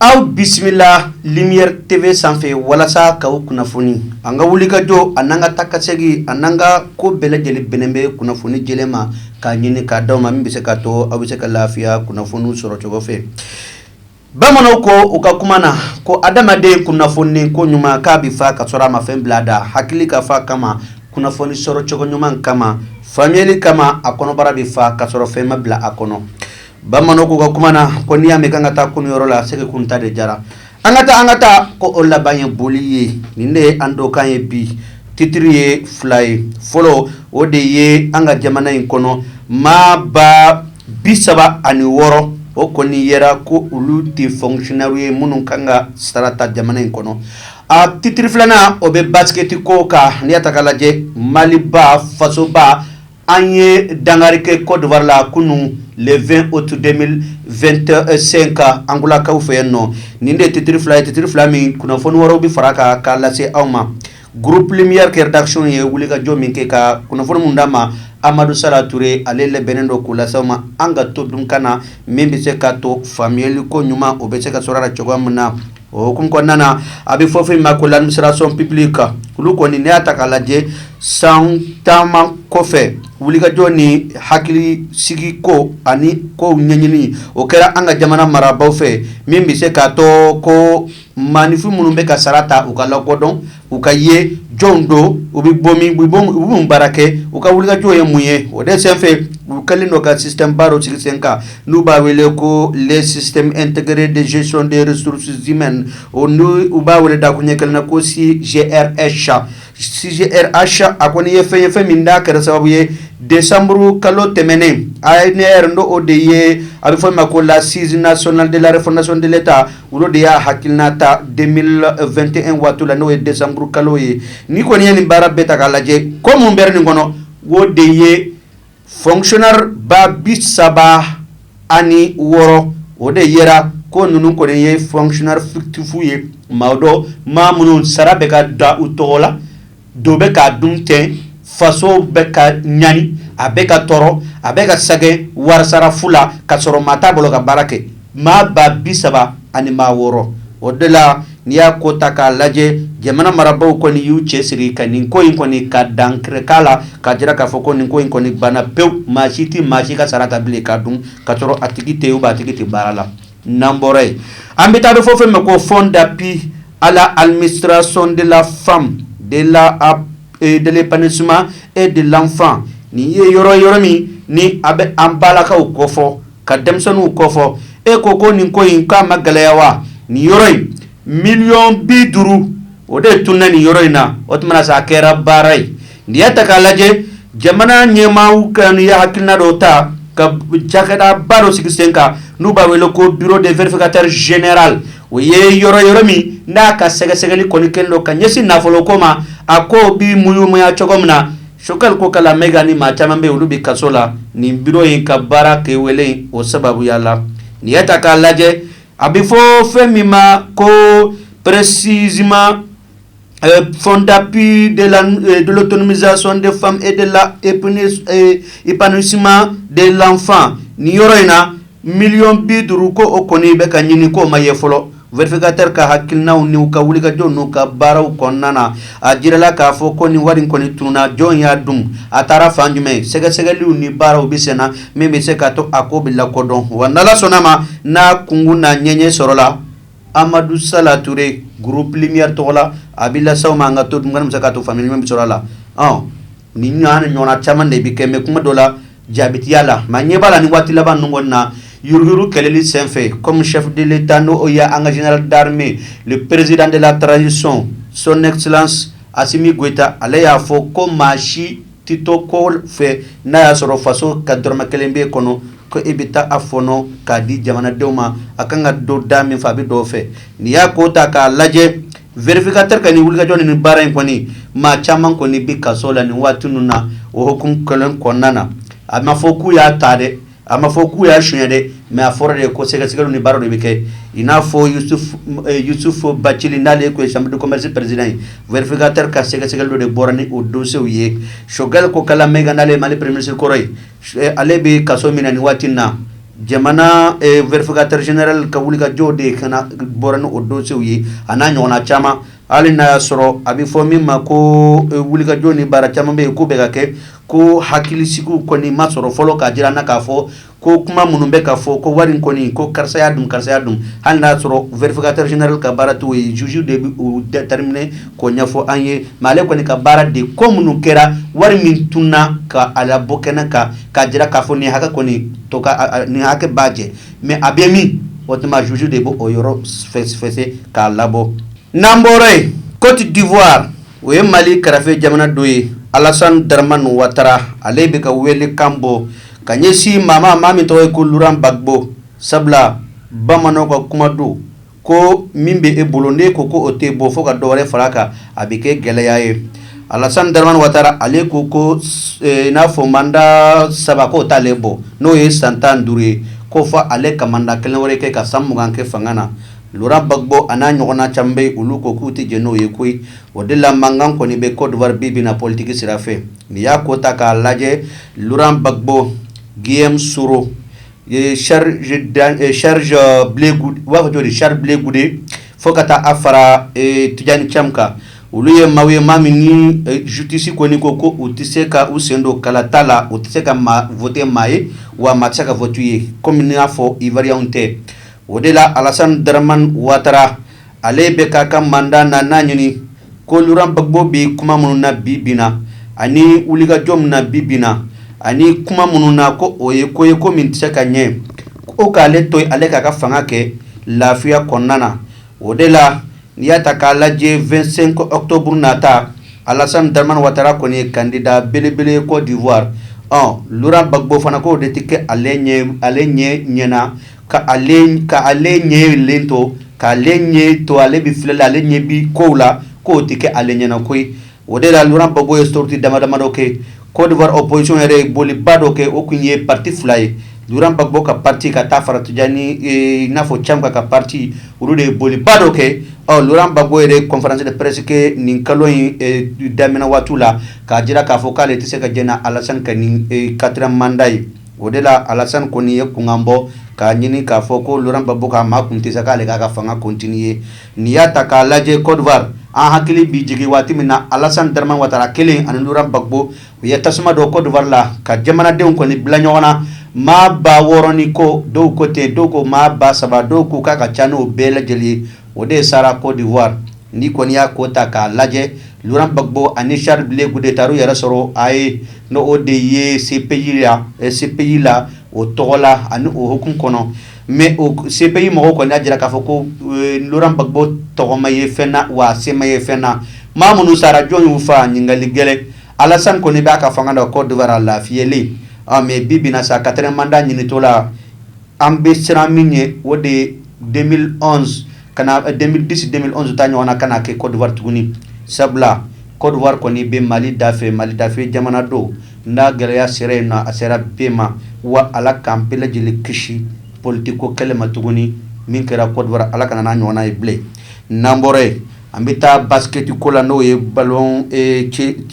Aw bisimila Lumière TV sanfɛ walasa k'aw kunnafoni an ka wulikajɔ ani an ka taakasegin ani an ka ko bɛɛ lajɛlen bɛnnen bɛ kunnafoni jɛlen ma k'a ɲini k'a d'aw ma min bɛ se ka to aw bɛ se ka lafiya kunnafoni sɔrɔ cogo fɛ bamananw ko u ka kuma na ko adamaden kunnafoni ko ɲuman k'a bɛ fa ka sɔrɔ a ma fɛn bila a da hakili ka fa kama kunnafoni sɔrɔ cogo ɲuman kama faamuyali kama a kɔnɔbara bɛ fa ka sɔrɔ fɛn ma bila a kɔnɔ bamananw ko u ka kuma na ko n'i y'a mɛn k'an ka taa kunun yɔrɔ la a sɛgɛ kunun ta de diyara an ka taa an ka taa ko o laban ye boli ye nin de ye an donkan ye bi titiri ye fila ye fɔlɔ o de ye an ka jamana in kɔnɔ maa ba bi saba ani wɔɔrɔ o kɔni yera ko olu tɛ fonctionnairew ye minnu kan ka sara ta jamana in kɔnɔ a titiri filanan o bɛ basiketi ko kan n'i y'a ta k'a lajɛ maliba fasoba An ye dankari kɛ Côte d'Ivoire la kunun le 20 août 2025 Angolakaw fɛ yen nɔ nin de ye titiri fila ye titiri fila min kunnafoni wɛrɛw bɛ fara kan k'a lase aw ma groupe Lumière ka rédaction ye wulikajɔ min kɛ ka kunnafoni minnu d'a ma amadu Sala Toure ale labɛnnen don k'u lase aw ma an ka to dunkan na min bɛ se ka to faamuyali ko ɲuman o bɛ se ka sɔrɔ cogo min na O hukumu kɔnɔna na a bɛ fɔ fɛn min ma ko l'administration publique olu kɔni n'i y'a ta k'a lajɛ san taama kɔfɛ wulikajɔ ni hakili sigi ko ani kow ɲɛɲini o kɛra an ka jamana marabaaw fɛ min bɛ se k'a to ko maanifin minnu bɛ ka sara ta u ka lakodɔn u ka ye jɔnw don u bɛ bɔ baara kɛ u ka wulikajɔ ye mun ye o de fɛ u kɛlen dɔ ka sisanba sigi sen kan n'u b'a wele ko tɛgɛgɛrɛ dezsion de srositime o n u b'a wele da ko ɲɛ kelen na ko si z sa si sa a kɔni ye fɛn ye fɛn min da kɛra sababu ye de samuru kalo tɛmɛnen a ye ne yɛrɛ n don o de ye a bɛ fɔ ma ko la sinina sɔn delaresi dela ta olu de y'a hakiliina ta 2021 waati la n'o ye desanburu kalo ye nin kɔni ye nin baara bɛɛ ta k'a lajɛ ko minnu bɔra nin kɔnɔ o de ye fonctionnaire ba bi saba ani wɔɔrɔ o de yera ko ninnu kɔni ye fonctionnaire fictifw ye maaw don maa minnu sara bɛ ka da u tɔgɔ la dɔ bɛ k'a dun ten faso bɛ ka ɲani a bɛ ka tɔɔrɔ a bɛ ka sɛgɛn wari sara fu la ka sɔrɔ maa t'a bolo ka baara kɛ maa ba bi saba ani maa wɔɔrɔ o de la n'i y'a ko ta k'a lajɛ jamana marabagaw kɔni y'u cɛ siri ka nin ko in kɔni ka dankari k'a la k'a jira k'a fɔ ko nin ko in kɔni banna pewu maa si tɛ maa si ka sara ta bilen k'a dun ka sɔrɔ a tigi tɛ u' a tigi tɛ baara la n'an bɔra yen an bɛ taa a bɛ fɔ fɛn ma ko fonds d'appui à la administration de la femme de l'épanouissement et de l'enfant nin ye yɔrɔ yɔrɔ min ni a bɛ an balakaw kɔ fɔ ka denmisɛnninw kɔ fɔ e ko ko nin ko in k'a ma gɛlɛya wa nin yɔrɔ in miliyɔn bi duuru o de tununna nin yɔrɔ in na o tuma sa a kɛra baara ye n'i y'a ta k'a lajɛ jamana ɲɛmaaw kɔni ye hakilina dɔ ta ka cakɛda ba dɔ sigi sen kan n'u b'a wele ko bureau de vérificateur général o ye yɔrɔ yɔrɔ min n'a ka sɛgɛsɛgɛli kɔni kɛlen don ka ɲɛsin nafolo ko ma a ko bi muɲya cogo min na Choguel Kokalla Maïga ni maa caman bɛɛ olu bɛ kaso la nin bureau in ka baara kɛwale o sababuya la n'i y'a ta k'a lajɛ a bɛ fɔ fɛn min ma ko précisément Fonds d'appui de l'autonomisation de femme et de l'épanouissement de l'enfant nin yɔrɔ in na miliyɔn bi duuru ko o kɔni bɛ ka ɲini k'o ma ye fɔlɔ vérificateur ka hakilinaw ni u ka wulikajɔw n'u ka baaraw kɔnɔna na a jirala k'a fɔ ko nin wari in kɔni tununna jɔn y'a dun a taara fan jumɛn sɛgɛsɛgɛliw ni baaraw bɛ senna min bɛ se ka to a ko bɛ lakɔdɔn wa n'Ala sɔnna a ma an n'a kunkun n'a ɲɛɲɛ sɔrɔ la amadu sala ture groupe lumière tɔgɔ la a b'a lase aw ma an ka to an ka se ka to faamuya min sɔrɔ a la ɔ nin ɲɔgɔnna caman de bɛ kɛ mais kuma dɔ la jabitiya la maa ɲɛ b'a la nin waati laban ɲɔgɔn na yyururu kɛlɛli senfɛ comme chef de l'état n'o ye an ka général d'armée le président de la transition son excellence asimi goyita ale y'a fɔ ko maa si Tɛ to kɔ fɛ n'a y'a sɔrɔ faso ka dɔrɔmɛ kelen b'i kɔnɔ ko e bɛ taa a fɔɔnɔ k'a di jamanadenw ma a kan ka don da min fɛ a bɛ don o fɛ n'i y'a ko ta k'a lajɛ vérificateur ka nin wulikajɔ ni baara in kɔni maa caman kɔni bɛ kaso la nin waati ninnu na o hukumu kelen kɔnɔna na a ma fɔ k'u y'a ta dɛ A ma fɔ k'u y'a sonɲɛ dɛ mais a fɔra de ye ko sɛgɛsɛgɛliw ni baaraw de bɛ kɛ i n'a fɔ Youssouf Bathily n'ale tun ye chambre de commerce président ye vérificateur ka sɛgɛsɛgɛli de bɔra ni o dossier ye Choguel Kokalla Maïga n'ale ye mali premier ministre kɔrɔ ye ale bɛ kaso min na nin waati in na jamana vérificateur général ka wulikajɔ de ye ka bɔra ni o dossier ye a n'a ɲɔgɔn caman hali n'a y'a sɔrɔ a bɛ fɔ min ma ko wulikajɔ ni baara caman bɛ yen k'o bɛ ka kɛ ko hakilisigiw kɔni ma sɔrɔ fɔlɔ k'a jira an na k'a fɔ ko kuma minnu bɛ ka fɔ ko wari kɔni ko karisa y'a dun karisa y'a dun hali n'a y'a sɔrɔ vérificateur général ka baara t'o ye juge de bɛ o déterminer k'o ɲɛfɔ an ye mais ale kɔni ka baara de ko minnu kɛra wari min tununna ka a labɔ kɛnɛ kan k'a jira k'a fɔ nin hakɛ kɔni to nin hakɛ b'a jɛ mais a bɛ min o tuma juge de bɛ o yɔrɔ fɛsɛ k'a labɔ n'an bɔra yen côte d'ivoire o ye mali kɛrɛfɛ jamana dɔ ye alasan daraman watara ale bɛ ka welekan bɔ ka ɲɛsin maa ma maa min tɔgɔ ye ko luran bagbo sabula bamananw ka kuma don ko min bɛ e bolo n'e ko ko o t'e bɔ fɔ ka dɔ wɛrɛ far'a kan a bɛ kɛ gɛlɛya ye alasan daraman watara ale ko ko n'a fɔ manda saba k'o t'ale bɔ n'o ye san tan duuru ye ko fɔ ale ka manda kelen wɛrɛ kɛ ka san mugan kɛ fanga na luran bagbo a n'a ɲɔgɔnna caman bɛ olu ko k'u tɛ jɛn n'o ye koyi o de la mankan kɔni bɛ kɔdiwari bi bi na politigi sira fɛ n'i y'a ko ta k'a lajɛ luran bagbo giyɔmu soro sarizjɔjɔli sarili bile gude fo ka taa a fara tijani camu kan olu ye maa ye maa min zisitisi kɔni ko ko u tɛ se ka u sen don kalata la u tɛ se ka maa wote maa ye wa maa tɛ se ka wote u ye kɔmi i y'a fɔ iwariyɛn tɛ o de la alasan daraman watara ale bɛ k'a ka manda naani ɲini ko luran bagbo bɛ kuma minnu na bi bi na ani wulikajɔ min na bi bi na ani kuma minnu na ko o ye ko ye ko min tɛ se ka ɲɛ ko k'ale to ale k'a ka fanga kɛ lafiya kɔnɔna na o de la n'i y'a ta k'a lajɛ vingt-cinq octobre nata alasan daraman watara kɔni ye kandida belebele kɔdiwari luran bagbo fana k'o de tɛ kɛ ale ale ɲɛ ɲɛna ka ka ale ɲɛlen to k'ale ɲɛ to ale bɛ filɛli la ale ɲɛ bi kow la k'o tɛ kɛ ale ɲɛna koyi o de la luran bagbo ye sɔriti damadama dɔ kɛ kɔdiwari opozisiyɔn yɛrɛ ye boliba dɔ kɛ o tun ye pati fila ye bagbo ka pati ka taa fara n'a fɔ camu ka pati olu de ye boliba dɔ kɛ luran bagbo yɛrɛ konferansi de pɛrɛsi kɛ nin kalo in daminɛ waati la k'a jira k'a fɔ k'ale ale tɛ se ka jɛn n'alasan ka nin katiriyɛmu manda ye O de la alasan kɔni ye kunkan bɔ k'a ɲini k'a fɔ ko luran bagbo k'a makun ten sa k'ale k'a ka fanga kɔntiniye n'i y'a ta k'a lajɛ kɔdiwari an hakili bi jigin waati min na alasan daraman watara kelen ani luran bagbo u ye tasuma don kɔdiwari la ka jamanadenw kɔni bila ɲɔgɔn na maa ba wɔɔrɔn ni kɔ dɔw ko ten dɔw ko maa ba saba dɔw ko k'a ka ca n'o bɛɛ lajɛlen ye o de sara kɔdiwari n'i kɔni y'a ko ta k'a lajɛ luran bagbo ani sarili bile gude taar'u yɛrɛ sɔrɔ la haye n'o de ye sepeyi sepeyi la o tɔgɔ la ani o hukumu kɔnɔ mɛ sepeyi mɔgɔw kɔni y'a jira k'a fɔ ko luran bagbo tɛgɛ ma ye fɛn na wa sen ma ye fɛn na maa minnu sara jɔn y'u faa ɲininkali gɛlɛn alasan kɔni b'a ka fanga la kɔdiwari a lafiyalen mɛ bi bi na sa katiriyɛmu manda ɲinitɔ la an bɛ siran min ɲɛ o de ye deux mille onze kana deux mille dix deux mille onze ta ɲɔgɔnna kana kɛ Côte d'Ivoire tuguni sabula Côte d'Ivoire kɔni bɛ mali dafɛ mali dafɛ jamana don n'a gɛlɛya sera yen nɔ a sera bɛɛ ma wa ala k'an bɛɛ lajɛlen kisi politique ko kɛlɛ ma tuguni min kɛra Côte d'Ivoire ala kana n'a ɲɔgɔn ye bilen n'an bɔra yen an bɛ taa basiketi ko la n'o ye ballon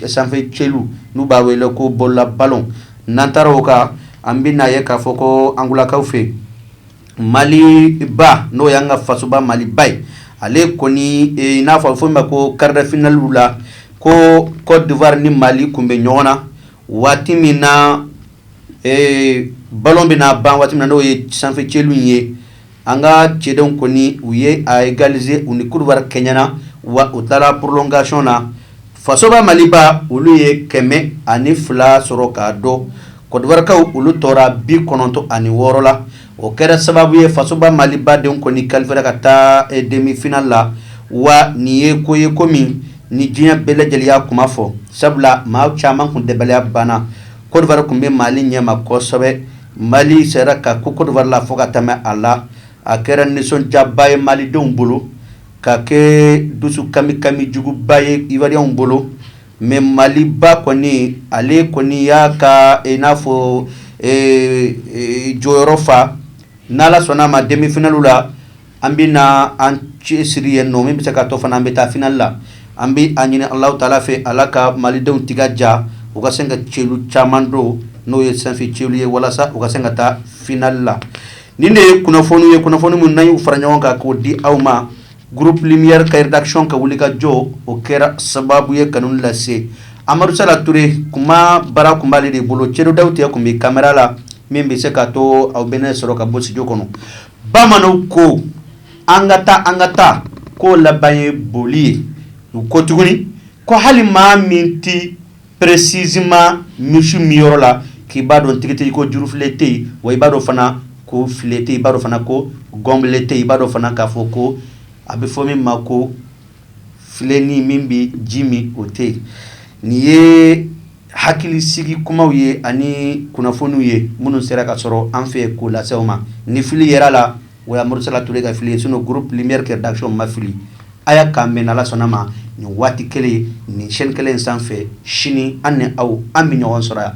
sanfɛ celu n'u b'a wele ko bolola ballon n'an taara o kan an bɛ n'a ye k'a fɔ ko angolakaw fɛ mali ba n'o y'an ka fasoba maliba ye ale kɔni i n'a fɔ fɔ ma ko quart de finale la ko Côte d'Ivoire ni mali kun bɛ ɲɔgɔn na waati min na ballon bɛna ban waati min na n'o ye sanfɛ celu ye An ka cɛdenw kɔni u ye a égaliser u ni Côte d'Ivoire kɛɲɛna wa u taara prolongation na fasoba maliba olu ye kɛmɛ ani fila sɔrɔ k'a dɔn Côte d'Ivoire kaw olu tora bi kɔnɔntɔn ani wɔɔrɔ la o kɛra sababu ye fasoba maliba denw kɔni qualifiera ka taa demi-finale la wa nin ye ko ye ko min ni diɲɛ bɛɛ lajɛlen y'a kuma fɔ sabula maa caman kun dabaliya banna Côte d'Ivoire kun bɛ mali ɲɛma kosɛbɛ Mali sera ka ko Côte d'Ivoire la fo ka tɛmɛ a la a kɛra nisɔndiyaba ye malidenw bolo ka kɛ dusu kami kami juguba ye Ivoiriens bolo mais mali ba kɔni ale kɔni y'a ka i n'a fɔ jɔyɔrɔ fa n'ala sɔnna a ma demi-finale la an bɛ na an cɛsiri yen nɔ min bɛ se ka to fana an bɛ taa finale la an bɛ a ɲini ala taala fɛ ala ka malidenw tiga ja u ka se ka celu caman don n'o ye sanfɛ celu ye walasa u ka se ka taa finale la nin de ye kunnafoni ye kunnafoni minnu an y'u fara ɲɔgɔn kan k'o di aw ma groupe lumière ka rédaction ka wuli ka jɔ o kɛra sababu ye kanu lase amadu sala ture kuma baara kun b'ale de bolo cɛdo dawuti kun bɛ caméra la min bɛ se ka to aw bɛ n sɔrɔ ka bɔ studio kɔnɔ bamananw ko an ka taa an ka taa ko laban ye boli ye u ko tuguni ko hali maa min tɛ précisément misi min yɔrɔ la k'i b'a dɔn tigitigi ko jurufilen tɛ yen wa i b'a dɔn fana ko filen tɛ yen i b'a dɔn fana ko gɔnbele tɛ yen i b'a dɔn fana k'a fɔ ko a bɛ fɔ min ma ko filenin min bɛ ji min o tɛ yen nin ye hakilisigi kumaw ye ani kunnafoniw ye minnu sera ka sɔrɔ an fɛ k'o lase aw ma ni fili yer'a la o ye amadu sala ture ka fili ye sinon groupe lumière ka rédaction ma fili a y'a k'an bɛn n'ala sɔnn'a ma nin waati kelen nin chaîne kelen sanfɛ sini an ni aw an bɛ ɲɔgɔn sɔrɔ yan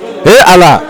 e ala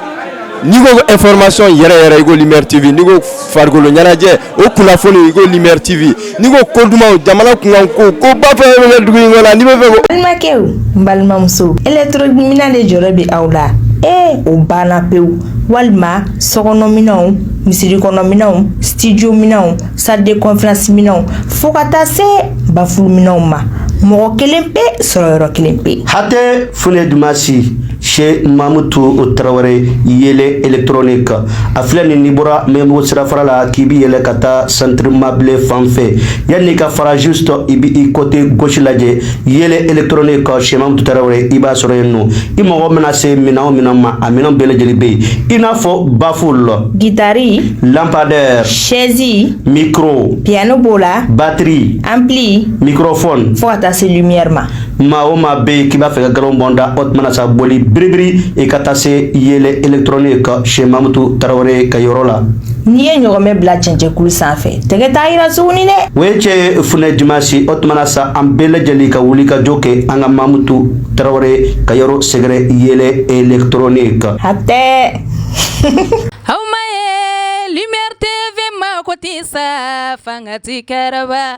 n'i ko information yɛrɛ yɛrɛ i ko Lumière TV n'i ko farikolo ɲɛnajɛ o kunnafoni i ko Lumière TV n'i ko ko dumanw jamana kunkan ko koba fɛn fɛn bɛ kɛ dugu in kɔnɔ n'i bɛ fɛ ko. balimakɛw n balimamuso électronique minɛn de jɔrɔ bɛ aw la ee o banna pewu walima sokɔnɔminɛnw misirikɔnɔminɛnw studio minɛnw salle de conférence minɛnw fo ka taa se bafulu minɛnw ma mɔgɔ kelen pe sɔrɔ yɔrɔ kelen pe. hatɛ fune dumasi. Sɛ mamu to o tarawele yɛlɛ etrnen kan a filɛ nin ni bɔra mɛbo sira fara la k'i bɛ yɛlɛ ka taa sanrifamabilen fan fɛ yan n'i ka farazo sɔrɔ i bɛ i kɔte gsi lajɛ yɛlɛ etrnen kan sɛma tarawele i b'a sɔrɔ yen nɔ i mɔgɔ bɛna se min o minnu ma a minɛn bɛɛ lajɛlen bɛ yen i n'a fɔ bafo la gitari lapadɛ sɛɛnsin miro piyɛnani b'o la batiri an bilen miro fɔ fo ka taa se ɲɛma maa o maa bɛ yen k'i b'a fɛ ka galon bɔn da o tuma na sa boli biribiri i ka taa se yɛlɛ électronique chez mamutu tarawele ka yɔrɔ la n'i ye ɲɔgɔmɛ bila cɛncɛnkulu sanfɛ tɛgɛ t'a yira tuguni dɛ o ye cɛ fune dumasi o tuma na sa an bɛɛ lajɛlen ka wuli ka jɔ kɛ an ka mamutu tarawele ka yɔrɔ sɛgɛrɛ yɛlɛ électronique hatɛ aw ma ye lumière tv mako tɛ sa fanga ti kɛlɛ ban